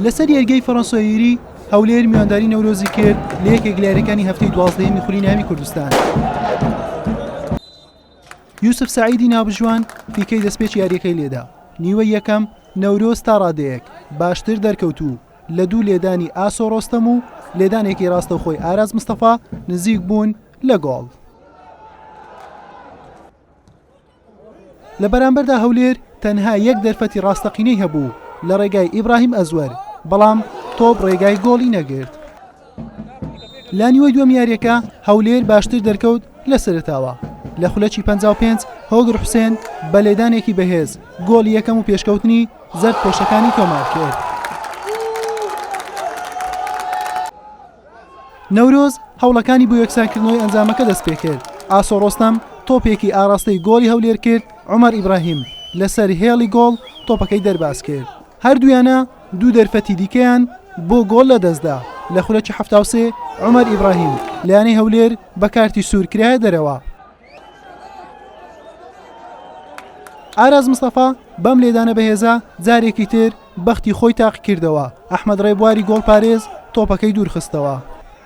لەسەر یەرگەی فەڕەنسۆیری هەولێر میوانداری نەورۆزی کرد لە یەکێک لە یاریەکانی هەفتەی دوازدەیەمی خولی ناوی کوردستان یوسف سعیدی نابژوان پیکەی دەستپێچ یاریەکەی لێدا نیوە یەکەم نەورۆز تا ڕادەیەک باشتر دەرکەوتوو لە دوو لێدانی ئاسۆ ڕۆستەم و لێدانێکی ڕاستەوخۆی ئاراز مستەفا نزیک بوون لە گۆڵ لە بەرامبەردا هەولێر تەنها یەک دەرفەتی ڕاستەقینەی هەبوو لە ڕێگای ئیبراهیم ئەزوەر، بەڵام تۆپ ڕێگای گۆڵی نەگرت. لە نیوەی دووەم یاریەکە هەولێر باشتر دەرکەوت لە سەرتاوە. لە خولەکی 55 هۆگر حوسێن بە لێدانێکی بەهێز گۆڵی یەکەم و پێشکەوتنی زەرد پۆشەکانی تۆمار کرد. نەورۆز هەوڵەکانی بۆ یەکسانکردنەوەی ئەنجامەکە دەستپێکرد، ئاسۆ ڕۆستەم تۆپێکی ئاراستەی گۆڵی هەولێر کرد، عومەر ئیبراهیم لەسەر هێڵی گۆڵ تۆپەکەی دەربازکرد، هەردوویانە دوو دەرفەتی دیکەیان بۆ گۆڵ لەدەستدا، لە خولەکی حەفتا و سێ عومەر ئیبراهیم لە یانەی هەولێر بە کارتی سوور کرایە دەرەوە. ئاراس مستەفا بەم لێدانە بەهێزە جارێکی تر بەختی خۆی تاقیکردەوە ئەحمەد ڕێبواری گۆڵپارێز تۆپەکەی دوورخستەوە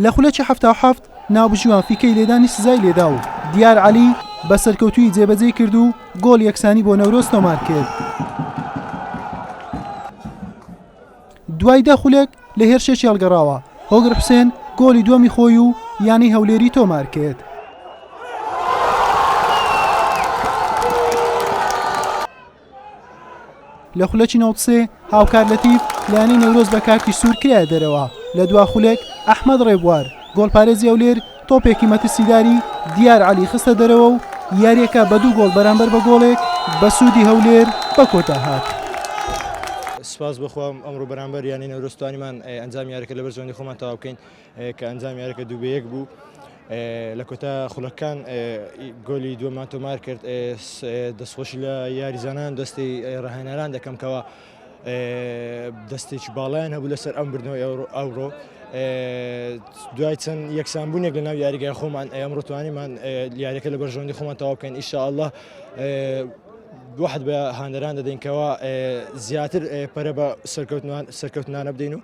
لە خولەکی حەفتا و حەفت ناوبژیوان فیکەی لێدانی سزای لێدا و دیار عەلی بە سەرکەوتووی جێبەجێی کرد و گۆڵ یەکسانی بۆ نەورۆز تۆمار کرد. دوای دە خولەک لە هێرشێکی هەڵگەڕاوە، هۆگر حوسێن گۆڵی دووەمی خۆی و یانەی هەولێری تۆمارکرد. لە خولەکی نەوەد و سێ هاوکار لەتیف لە یانەی نەورۆز بە کارتی سوور کرایە دەرەوە، لە دوا خولەک ئەحمەد ڕێبوار گۆڵپارێزی هەولێر تۆپێکی مەترسیداری دیار عەلی خستە دەرەوە و یارییەکە بە دوو گۆڵ بەرامبەر بە گۆڵێک بە سوودی هەولێر بە کۆتا هات. سپاس بۆ خوا ئەمڕۆ بەرامبەر یانەی نەورۆز توانیمان ئەنجامی یاریەکە لەبەر زۆنی خۆمان تەواو بکەین کە ئەنجام یاریەکە دوو بە یەک بوو لە کۆتا خولەکان گۆلی دووەمان تۆمار کرد دەستخۆشی لە یاریزانان دەستی ڕاهێنەران دەکەم کەەوە دەستێکی باڵایان هەبوو لەسەر ئەم بردنەوەی ئەوڕۆ دوای چەند یەکسانبوونێک لەناو یاریگای خۆمان ئەمڕۆتوانیمان یاریەکە لە بەرژەوەندی خۆمان تەواو بکەین ئیشاءله دوحد بە هاندەران دەدەینکەوە زیاتر پەرە بە سەرکەوتنوان سەرکەوتنانە بدەین و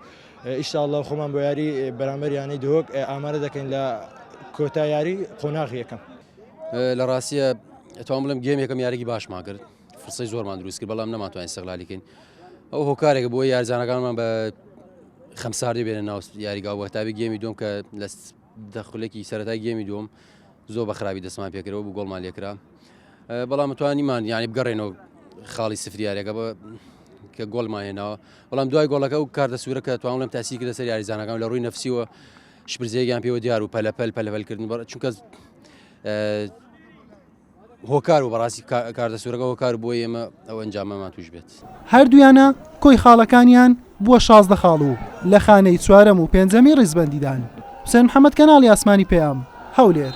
ئیشاءله خۆمان بۆ یاری بەرامبەریانی دۆک ئامارە دەکەین لە کۆتا یاری قۆناغ یەکەم لە ڕاستە ئەتوان بڵم گەمێکم یاریی باشماگرت فرسەی زۆرمان دروست کرد بەڵام نەماتوان سەغلالی کەین ئەو هۆکارێک بۆ یارزانەکانمان بە خەمساردی بێنە ناو یاریگا وەتابی گەمی دوم کە لە دەخلێکی سەرەتای گەمی دوم زۆر بە خراپی دەستمان پێکرەوە بوو گۆڵمان لێکرا بەڵام توانیمان یانی بگەڕێنەوە خاڵی سفریارەکە بە کە گۆلمان هێناوە بەڵام دوای گۆڵەکە و کاردە سوورەکە توانڵم تاسی کردە سەر یاریزانەکان لە ڕووی نفسیوە شپرزێکیان پێوە دیار و پەلەپەل پەلەپەلکردن بەڕ چونکە هۆکار و بەڕاستی کارتە سورەکە هۆکار بۆ ئێمە ئەو ئەنجامەمان توش بێت. هەردوویانە کۆی خاڵەکانیان بووە شازدە خاڵ و لە خانەی چوارەم و پێنجەمی ڕیزبەندیدان. حوسێن محەمەد کەناڵی ئاسمانی پەیام، هەولێر.